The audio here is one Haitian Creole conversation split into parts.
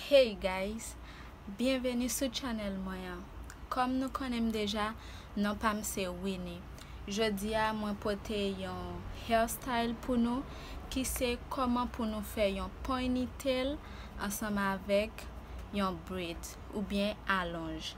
Hey guys Byenveni sou channel mwen an Kòm nou konnen m deja non pa m se Winny Jodi a mwen pote yon hair style pou nou ki se kòman pou nou fè yon poiniteal ansanm avèk yon braid oubyen alonj.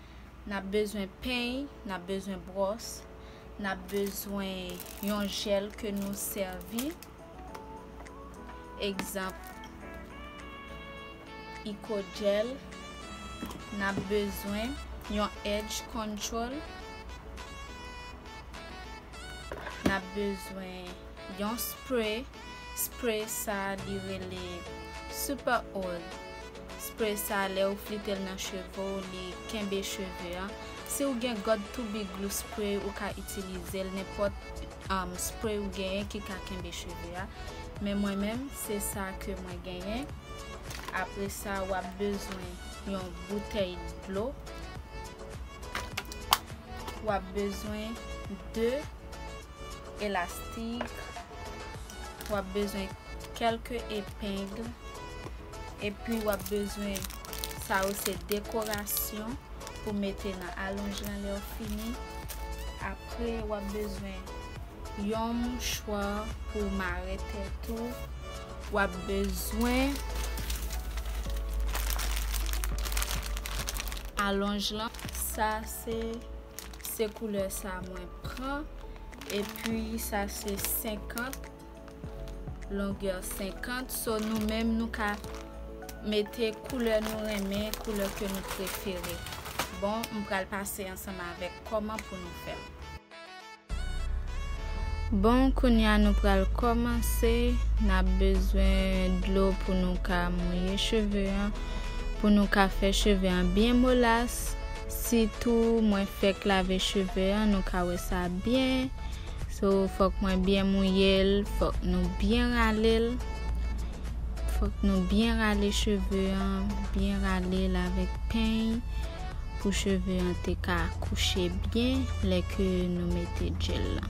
N ap bezwen peny, n ap bezwen bwòs, n ap bezwen yon jèl ke nou sèvi. Egzanp, Icodjel. N ap bezwen yon edge control. N ap bezwen yon spray. Spray sa li rele super oil Spray sa lè ou flitel nan cheve w li kenbe cheve an Si ou gen god to be glue spray ou ka itilizel nenpòt spray ou genyen ki ka kenbe cheve a Men mwen menm se sa ke mwen genyen Apresa wap bezwen yon boutèy dlo Wap bezwen 2. elastik, w ap bezwen kèlke epeng, epi w ap bezwen, sa yo se dekorasyon pou mete nan alonj lan lè w fini. Apre w ap bezwen yon mouchwa pou w mare tèt ou, w ap bezwen alonj lan. Sa se. Se koulè sa mwen pran. Epi sa se 50. Longè 50. So nou menm nou ka mete koulè nou renmen, koulè ke nou prefere. Bon, m pral pase ansanm avèk kòman pou nou fè l. Bon, kounye a nou pral kòmanse. N ap bezwen dlo pou nou ka mouye cheve an. Pou nou ka fè cheve an byen molas. Sitou mwen fèk lave cheve an nou ka wè sa byen so fòk mwen byen mouyel fòk nou byen ralel fòk nou byen rale cheve an byen ralel avèk peny pou cheve an te ka kouche byen lè ke nou mete djèl lan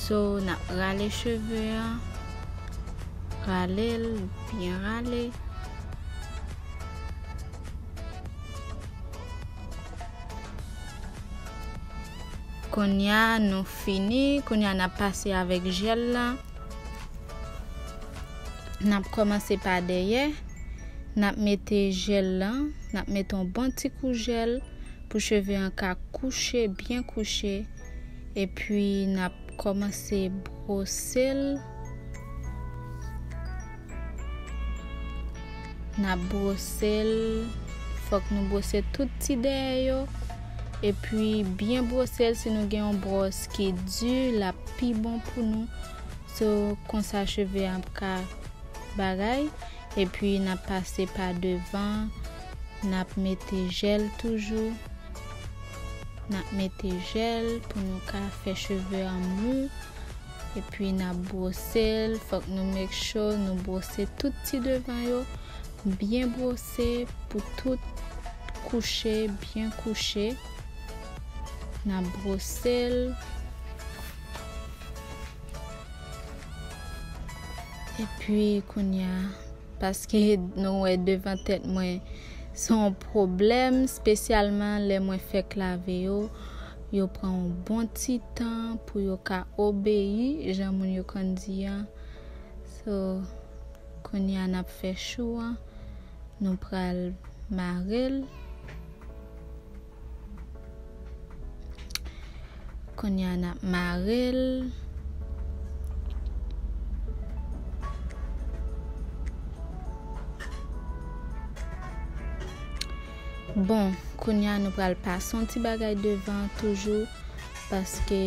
so nap rale cheve an ralel byen rale. Konnya nou fini, konnya nap pase avèk jèl la. Nap kòmanse pa dèyè, nap mete jèl la, nap mete yon bon ti kou jèl pou cheve an ka kouche, byen kouche epi nap kòmanse brose l. Nap brosel fok nou brose tout ti dèyè yo epi byen brosel si nou gen yon bwòs ki di lap pi bon pou nou so konsa cheve an ap ka bagay epi nap pase pa devan nap mete jèl toujou nap mete jèl pou nou ka fè cheve an mou. Epi nap brosel fok nou make sure nou brose tout ti devan yo byen brose pou tout kouche byen kouche nap brosel epi kounya paske nou wè devan tèt mwen son pwoblèm spesyalman lè mwen fèk lave yo Yo pran yon bon ti tan pou yo ka obeyi jan moun yo konn di an. So, kounye a n ap fè chou an, nou pral mare l. Kounye a n ap mare l. Bon kounya nou pral pase yon ti bagay devan an toujou paske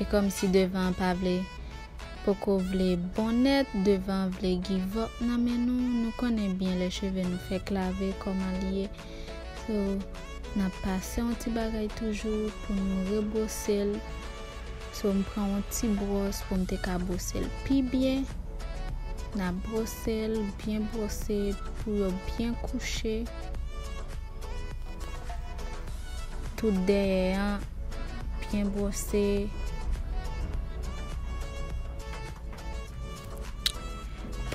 e kòmsi devan an pa vle poko vle bon nèt devan an vle give up nan men nou nou konnen byen lè cheve nou fèk lave kòman li ye so nap pase yon ti bagay toujou pou nou rebrose l. So m pran yon ti bwòs pou m te ka bwose l pi byen. N ap bwose l, byen bwose pou yo byen kouche. Tout dèyè an byen bwose.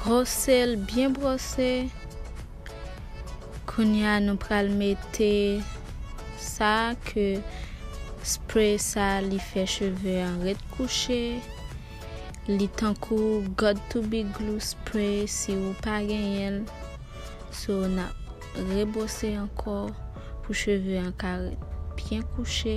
Bwose l, byen bwose. Kounya nou pral mete sa ke spray sa li fè cheve an ret kouche li tankou god to be glue spray si ou pa genyenl so nap rebwose ankò pou cheve an ka ret byen kouche.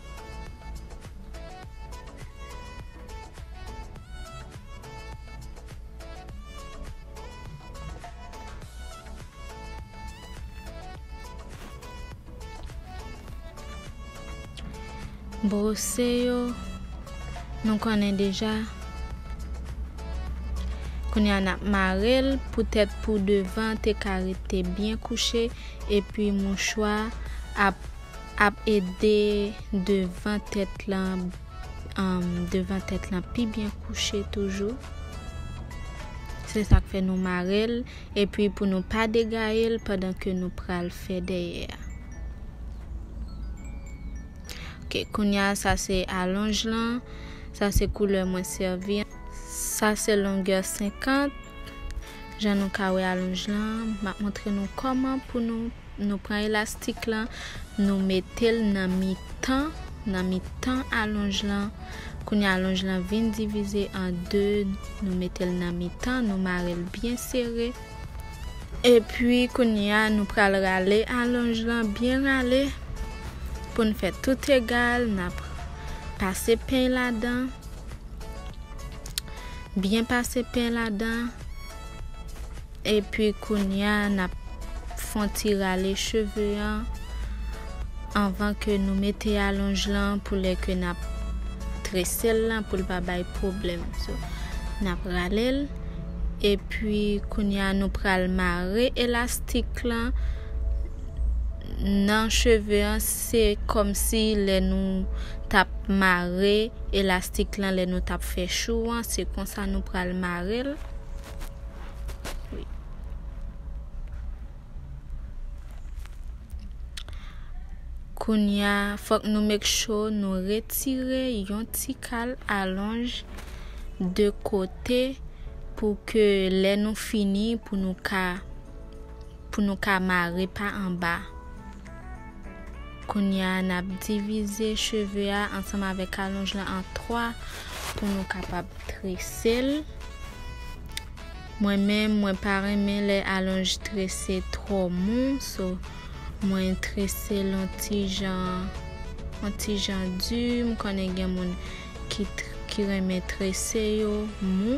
Brose yo nou konnen deja kounye a nap mare l pou tèt pou devan te ka rete byen kouche epi mouchwa ap Ap ede devan tèt lan devan tèt lan pi byen kouche toujou. Se sak fè nou marel epi pou nou pa degayel pandan ke nou pral fè dèyè a. Ok kounya sa se alonj lan, sa se koulè mwen sèvi. Sa se longè 50, jan nou ka wè alonj lan, map montre nou kòman pou nou. Nou pran elastik lan, nou metel nan mitan, nan mitan alonj lan, kounye a alonj lan vin divize an 2, nou metel nan mitan, nou marel byen sere, epi kounye a nou pral rale alonj lan byen rale poun fè tout egal, nap pase peny ladan, byen pase peny ladan. Epi kounya nap fon ti rale cheve an anvan ke nou mete alonj lan pou lè ke nap tresel lan poul pa bay pwoblèm so nap ralel epi kounya nou pral mare elastik lan nan cheve an se kòmsi lè nou tap mare elastik lan lè nou tap fè chou an se konsa nou pral marel. Kounya fòk nou make sure nou retire yon ti kal alonj de kote pou ke lè nou fini pou nou ka pou nou ka mare pa anba. Kounya nap divize cheve a ansanm avèk alonj lan an 3 pou nou kapab tresel. Mwen menm mwen pa renmen lè alonj trese twò mou so mwen tresel an ti jan an ti jan di m konnen gen moun ki ki renmen trese yo mou.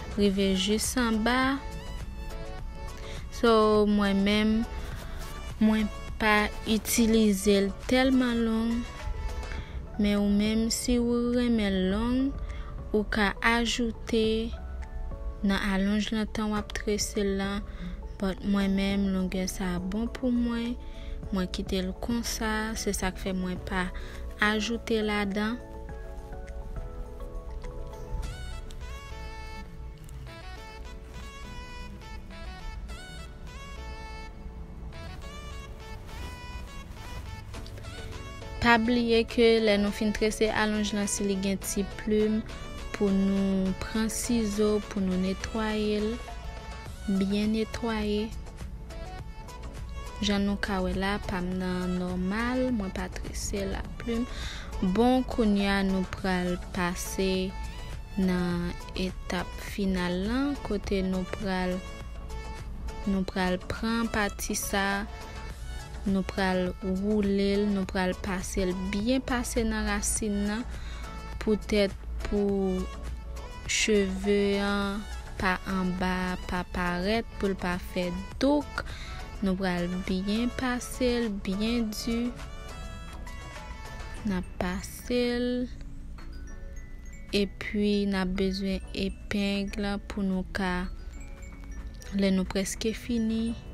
rive jis anba so mwen menm mwen pa itilize l telman long men ou menm si ou renmen l long ou ka ajoute nan alonj lan tan wap trese l lan but mwen menm longè sa bon pou mwen mwen kite l konsa se sak fè mwen pa ajoute ladan. Pa bliye ke lè nou fin trese alonj lan si li gen ti plim pou nou pran sizo pou nou netwaye l, byen netwaye. Jan nou ka wè la pam nan nòmal mwen pa trese la plim bon kounya nou pral pase nan etap final lan kote nou pral nou pral pran pati sa nou pral woulel nou pral pasel byen pase nan rasin nan poutèt pou Cheve an pa anba pa parèt poul pa fè douk nou pral byen pasel byen di nap pasel epi nap bezwen epeng pou nou ka lè nou preske fini.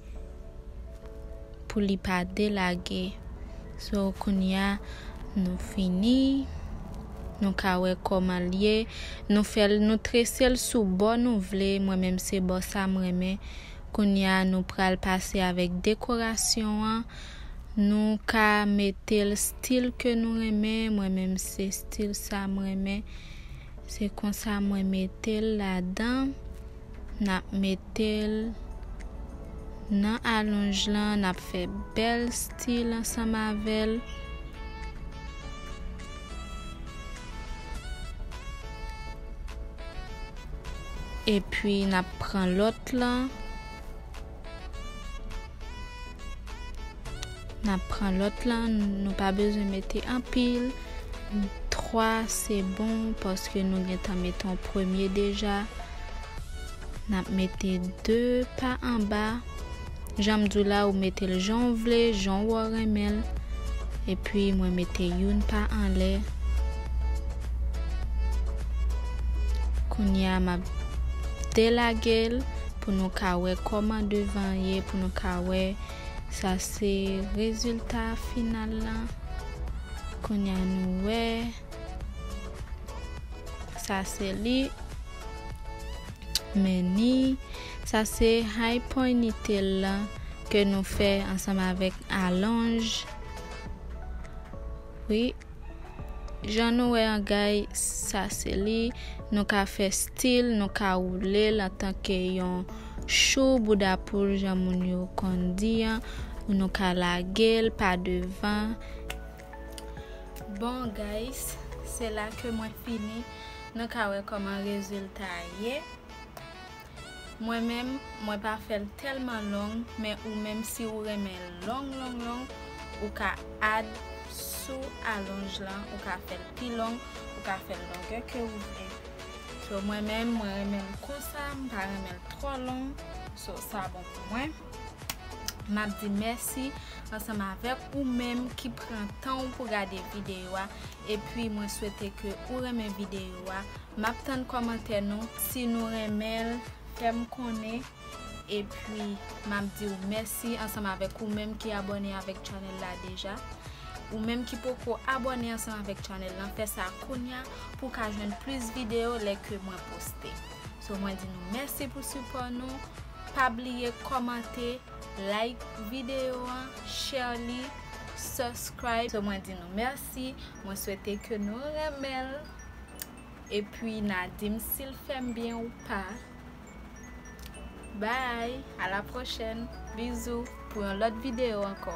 pou li pa delage so kounya nou fini nou ka wè koman liye nou fèl nou tresel sou bò nou vle mwen menm se bò sa m renmen kounya nou pral pase avèk dekorasyon an nou ka metel stil ke nou renmen mwen menm se stil sa m renmen se konsa mwen metel ladan. Nap metel Nan alonj lan nap fè bèl stil ansanm avèl. Epi nap pran lòt lan. Nap pran lot lan nou pa bezwen mete anpil 3 se bon paske nou gentan mete yon premye deja nap mete 2 pa anba janm diw la ou metel janw vle jan ou renmenl epi mwen mete youn pa anlè kounya map. te lagel pou nou ka wè kòman devan an ye pou nou ka wè sa se rezilta final lan kounya nou wè sa se li meni sa se high ponytail lan ke nou fè ansanm avèk alonj wi. Jan nou wè an gay sa se li, nou ka fè stil, nou ka woule l antanke yon chou bouda poul jan moun yo konn di an, ou nou ka lage l pa devan. Bon guys, se la ke mwen fini, nou ka wè kòman rezilta a ye. Mwen menm mwen pa fèl tèlman long men ou menm si ou renmen l long long long ou ka add sou alonj lan ou ka fèl pi long ou ka fèl longè ke ou vle so mwen menm mwen renmen l konsa m pa renmen l twò long so sa bon pou mwen map di mèsi ansanm avèk ou menm ki pran tan w pou gade videyo a. Epi mwen swete ke ou renmen video a map tann kòmantè nou si nou renmenl fèm konnen epi map diw mèsi ansanm avèk ou menm ki abòne avèk channel la deja ou menm ki poko abòne ansanm avèk channel lan fè sa kounya pou ka jwenn plis video lè ke mwen poste so mwen di nou mèsi pou sipò nou pa bliye kòmante like video an share li subscribe so mwen di nou mèsi. mèsi mwen swete ke nou renmenl epi na dim sil fèm byen ou pa bye a la pwochèn bizou pou yon lòt video ankò.